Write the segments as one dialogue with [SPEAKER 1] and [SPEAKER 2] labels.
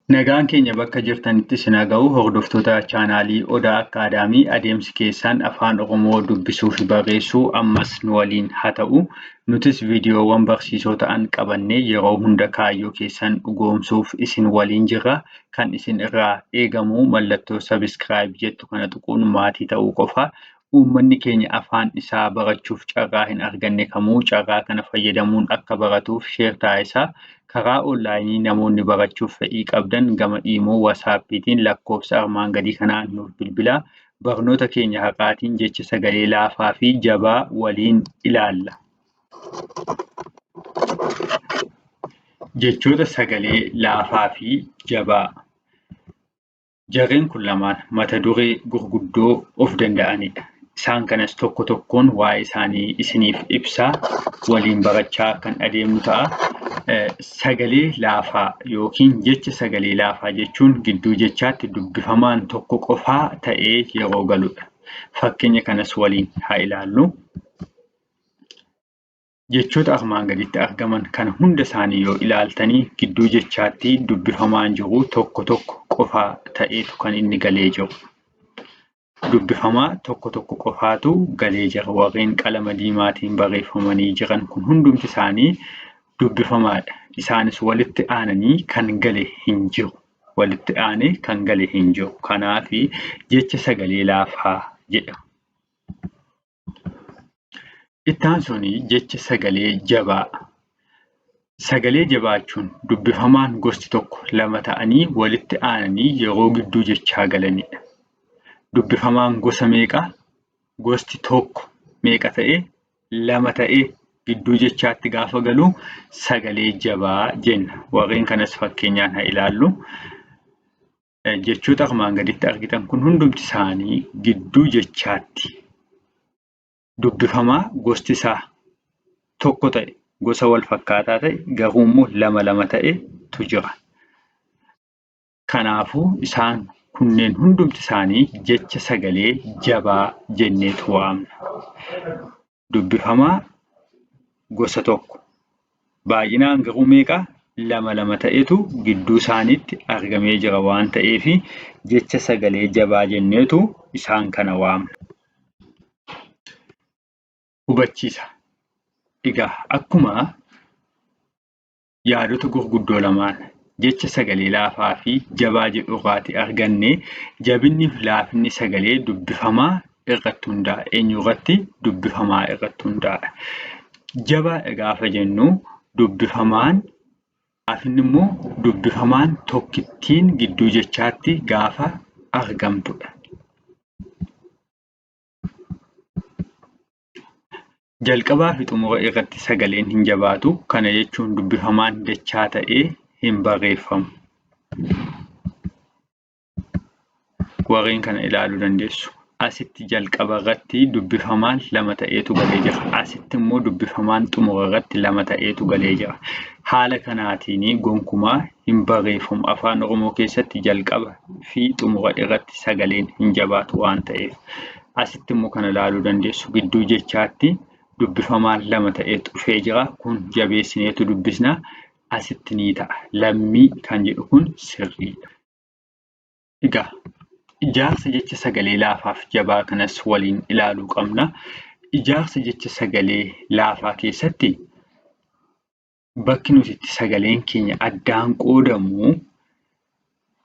[SPEAKER 1] Nagaan keenya bakka jirtanitti isin haa ga'u hordoftoota chaanaalii Odaa Akkaadaamii adeemsi keessan afaan Oromoo dubbisuu fi barreessuu ammas nu waliin haa ta'u. Nutis viidiyoowwan barsiisoo ta'an qabannee yeroo hunda kaayyoo keessan dhugoomsuuf isin waliin jirra. Kan isin irraa eegamu mallattoo subscribe jettu kana tuquun maatii ta'uu qofa. uummanni keenya afaan isaa barachuuf carraa hin arganne kamuu carraa kana fayyadamuun akka baratuuf sheer taasisaa karaa onlaayinii namoonni barachuuf fedhii qabdan gama iimoo wasaappiitiin lakkoofsa armaan gadii kanaan nuuf bilbilaa barnoota keenya haqaatiin jecha sagalee laafaa fi jabaa waliin ilaalla. Jechoota sagalee laafaa fi jabaa. Jarreen kun lamaan mata duree gurguddoo of danda'anidha. Isaan kanas tokko tokkoon waa'ee isaanii isiniif ibsaa waliin barachaa kan adeemnu ta'a. Sagalee laafaa yookiin jecha sagalee laafaa jechuun gidduu jechaatti dubbifamaan tokko qofaa ta'ee yeroo galudha. Fakkeenya kanas waliin haa ilaallu. Jechoota armaan gaditti argaman kana hunda isaanii yoo ilaaltanii gidduu jechaatti dubbifamaan jiru tokko tokko qofaa ta'eetu kan inni galee jiru. Dubbifamaa tokko tokko qofaatu galee jira. Warreen qalama diimaatiin barreeffamanii jiran kun hundumti isaanii dubbifamaadha. Isaanis walitti aananii kan gale hin jiru. Walitti aanee kan gale hin jiru. Kanaaf jecha sagalee laafaa jedhama. Itti aansuun jecha sagalee jabaa. Sagalee jabaachuun dubbifamaan gosti tokko lama ta'anii walitti aananii yeroo gidduu jechaa galanidha. Dubbifamaan gosa meeqa? Gosti tokko meeqa ta'ee? Lama ta'ee gidduu jechaatti gaafa galu sagalee jabaa jenna. Warreen kanas fakkeenyaan haa ilaallu. jechoota armaan gaditti argitan kun hundumti isaanii gidduu jechaatti dubbifamaa gosti isaa tokko ta'e gosa wal fakkaataa ta'e garuu immoo lama lama ta'etu jira. Kanaafuu isaan kunneen hundumti isaanii jecha sagalee jabaa jenneetu waamna. dubbifamaa gosa tokko baay'ina hanqaquu meeqa lama lama ta'etu gidduu isaaniitti argamee jira waan ta'eef jecha sagalee jabaa jenneetu isaan kana waamna. Hubachiisa. Egaa akkuma yaadota gurguddoo lamaan, jecha sagalee laafaa fi jabaa jedhu irraati arganne. Jabinni fi laafinni sagalee dubbifamaa irratti hundaa'a. Eenyu irratti? Dubbifamaa irratti hundaa'a. Jabaadha gaafa jennu dubbifamaan laafinni immoo dubbifamaan tokkittiin gidduu jechaatti gaafa argamtudha. Jalqabaa fi xumura irratti sagaleen hin jabaatu. Kana jechuun dubbifamaan dachaa ta'ee hin barreeffamu. Warreen kana ilaaluu dandeessu. Asitti jalqaba irratti dubbifamaan lama ta'eetu galee jira. Asitti immoo dubbifamaan xumura irratti lama ta'eetu galee jira. Haala kanaatiin gonkumaa hin barreeffamu. Afaan Oromoo keessatti jalqaba fi xumura irratti sagaleen hin jabaatu waan ta'eef. Asitti immoo kana ilaaluu dandeessu gidduu jechaatti dubbifamaan lama ta'ee dhufee jira. Kun jabeessineetu dubbisna. Asitti ni ta'a. Lammii kan jedhu kun sirriidha. Egaa ijaarsa jecha sagalee laafaaf jabaa kanas waliin ilaaluu qabna. Ijaarsa jecha sagalee laafaa keessatti bakki nuti itti sagaleen keenya addaan qoodamu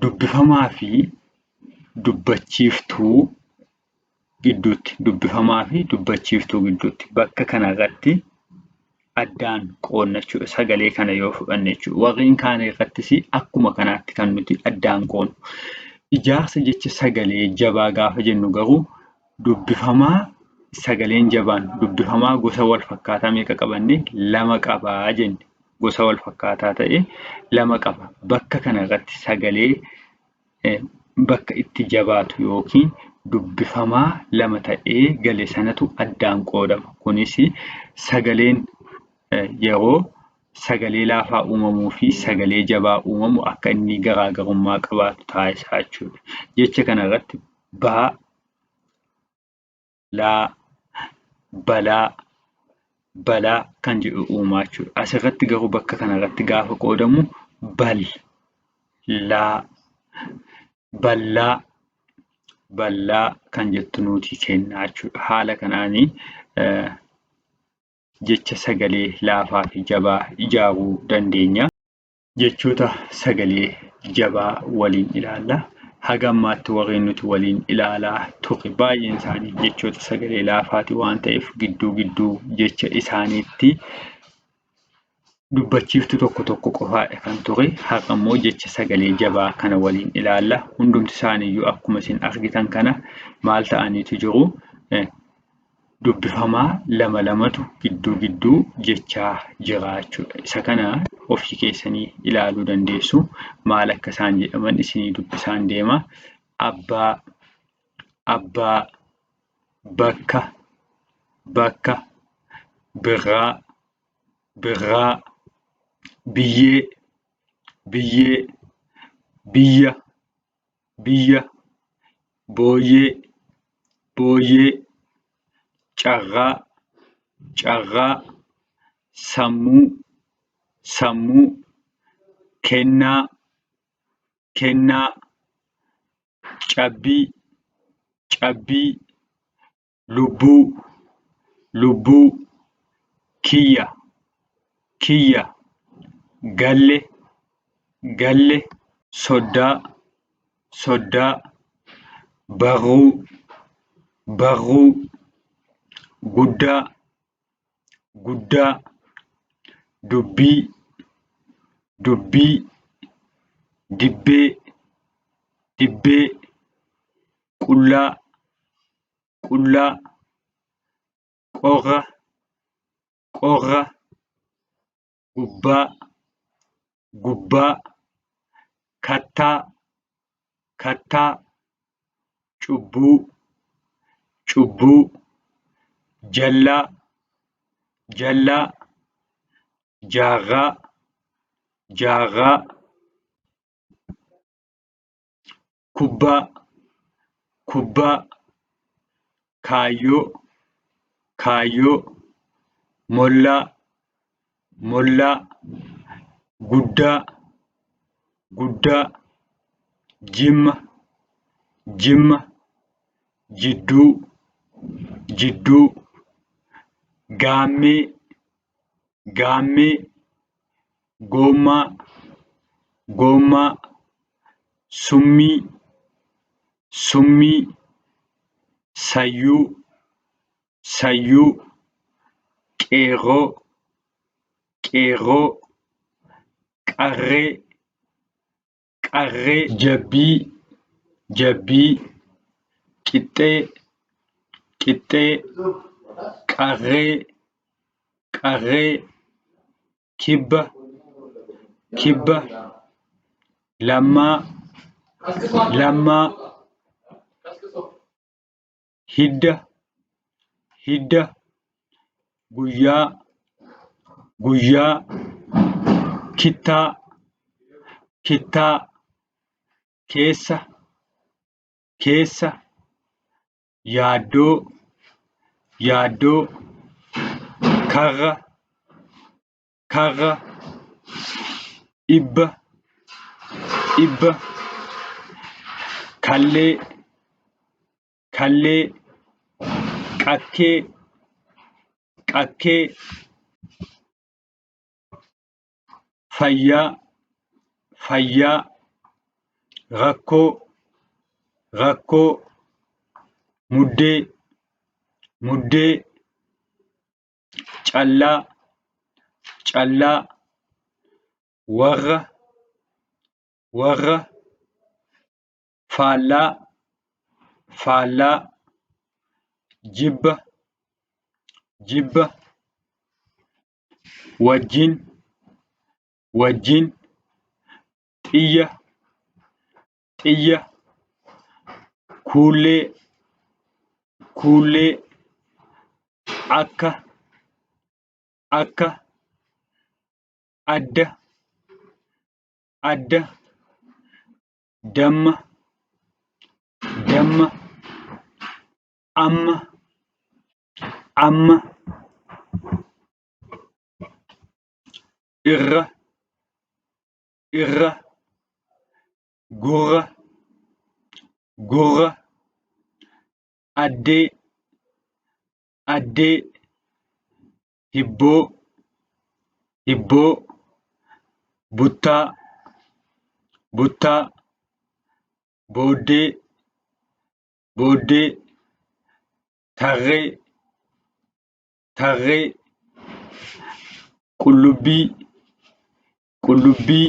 [SPEAKER 1] dubbifamaa fi dubbachiiftuu gidduutti dubbifamaa fi dubbachiiftuu gidduutti bakka kanarratti addaan qoodna jechuudha. Sagalee kana yoo fudhanne jechuudha. Warreen kaan irrattis akkuma kanaatti kan nuti addaan qoodnu. Ijaarsa jecha sagalee jabaa gaafa jennu garuu dubbifamaa sagaleen jabaan dubbifamaa gosa wal fakkaataa meeqa qabanne lama qabaa jenne gosa wal fakkaataa ta'e lama qaba bakka kana irratti sagalee eh, bakka itti jabaatu yookiin dubbifamaa lama ta'ee gale sanatu addaan qoodama kunis sagaleen eh, yeroo sagalee laafaa uumamuu fi sagalee jabaa uumamu akka inni garaagarummaa qabaatu taasisaa jechuudha. Jecha kana irratti ba laa balaa balaa kan jedhu uumaa jechuudha. Asirratti garuu bakka kanarratti gaafa qoodamu bal laa ballaa ballaa kan jettu nuti kennaa jechuudha. Haala kanaan jecha sagalee laafaa fi jabaa ijaaruu dandeenya. Jechoota sagalee jabaa waliin ilaalla. Haga ammaatti warri nuti waliin ilaalaa turre baay'een isaanii jechoota sagalee laafaati waan ta'eef gidduu gidduu jecha isaaniitti dubbachiiftuu tokko tokko qofaadha kan ture. Har'a immoo jecha sagalee jabaa kana waliin ilaalla. Hundumti isaaniiyyuu akkuma isin argitan kana maal ta'aniitu jiru? dubbifamaa lama lamatu gidduu gidduu jechaa jira jechuudha. Isa kana ofii keessanii ilaaluu dandeessu. Maal akka isaan jedhaman isinii dubbisaan deema. Abbaa, abbaa, bakka, bakka, birraa, birraa, biyyee, biyyee, biyya, biyya, booyyee, booyyee, carraa, carraa, sammuu, sammuu, kennaa, kennaa, cabbii, cabbii, lubbuu lubbuu kiyya kiyya galle galle soddaa soddaa barruu barruu guddaa guddaa dubbii dubbii dibbee dibbee qullaa qullaa, qorra, qorra, gubbaa, gubbaa, kattaa, kattaa, cubbuu, cubbuu, jallaa, jallaa, jaarraa, jaarraa. kubbaa kubbaa kaayyoo kaayyoo mollaa mollaa guddaa guddaa jimma jimma jidduu jidduu gaammee gaammee Goommaa Goommaa Summii Summii Sayyuu Sayyuu Qeerroo Qeerroo Qarree qarree, jabbii, jabbii, qixxee, qixxee, qarree, qarree, kibba, kibba, lammaa, lammaa, hidda hidda guyyaa guyyaa kittaa kittaa keessa keessa yaaddoo yaaddoo karra karra, dhibba, dhibba, kallee, kallee, qakkee, qakkee, fayyaa, fayyaa, rakkoo, rakkoo, muddee, muddee, callaa callaa warra warra faallaa faallaa jibba jibba wajjin wajjin xiyya xiyya, kuullee, kuullee, akka, akka, adda, adda, damma, damma, amma, amma, irra, irra gurra gurra addee addee hibboo hibboo buttaa buttaa booddee booddee tarree tarree qullubbii qullubbii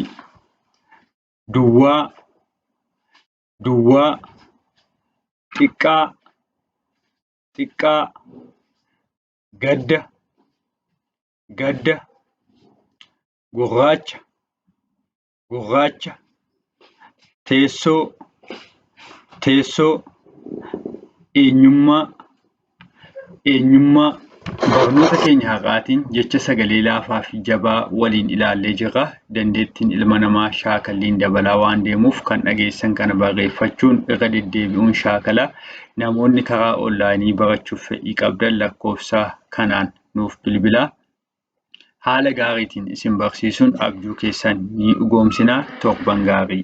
[SPEAKER 1] duwwaa duwwaa xiqqaa xiqqaa gadda gadda gurraacha gurraacha teessoo teessoo eenyummaa Eenyummaa, Barnoota keenya har'aatiin jecha sagalee laafaafi jabaa waliin ilaallee jirra. Dandeettiin ilma namaa shaakalliin dabalaa waan deemuuf kan dhageessan kana barreeffachuun irra deddeebi'uun shaakala. Namoonni karaa onlaayinii barachuuf fedhii qabdan lakkoofsa kanaan nuuf bilbilaa. Haala gaariitiin isin barsiisuun abjuu keessan ni dhugoomsina. Torban gaarii!